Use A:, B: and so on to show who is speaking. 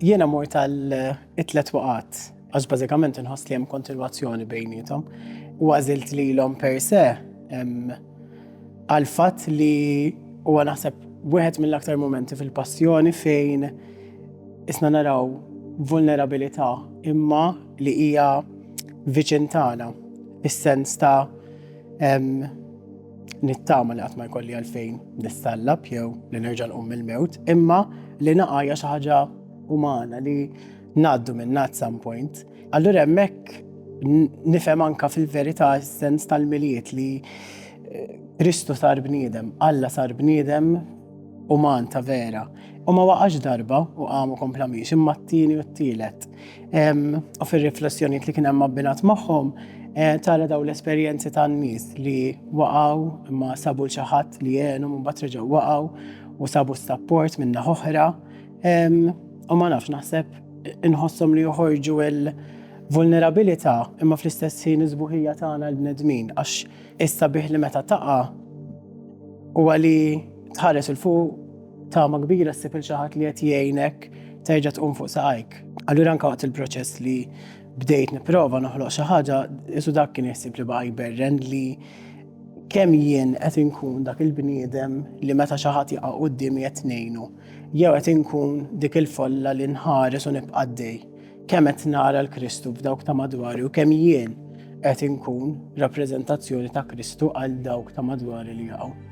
A: Jiena mor tal-itlet waqat, għax bażikament inħoss li hemm kontinwazzjoni bejnietom, u għażilt lilhom per se għall-fatt li huwa naħseb wieħed mill-aktar mumenti fil-passjoni fejn isna naraw vulnerabilità imma li hija viċin tagħna fis-sens ta' nittama li qatt ma jkolli għalfejn nistallab jew li nerġa' nqum mill-mewt, imma li naqgħa hija xi ħaġa umana li ngħaddu minn at some point. Allura hemmhekk nifhem anka fil-verità s-sens tal-miliet li eh, Kristu sar bniedem, Alla sar bniedem uman ta' vera. U ma waqax darba u għamu kompla miex imma t-tieni u t-tielet. U fil-riflessjoniet li kien hemm abbinat magħhom, eh, tara daw l-esperjenzi tan-nies li waqgħu imma sabu l-xaħat li jenhom u mbagħad reġgħu waqgħu u sabu s-sapport minna oħra U ma nafx naħseb inħossom li joħorġu il-vulnerabilità imma fl-istess ħin iżbuħija tagħna l-bnedmin għax issa bih li meta taqa' u għali tħares il fuq tama kbira ssib il xaħat li qed jgħinek terġa' tqum fuq saqajk. Allura anke waqt il-proċess li bdejt nipprova noħloq xi ħaġa, isu dak kien jħsib li baqa' jberren li kemm jien qed inkun dak il-bniedem li meta xi ħadd jaqa' quddiemi qed ngħinu. Jew qed inkun dik il-folla li nħares u nibqa' għaddej, kemm qed nara l-Kristu f'dawk ta' madwari u kemm jien qed inkun rappreżentazzjoni ta' Kristu għal dawk ta' madwari li jaqgħu.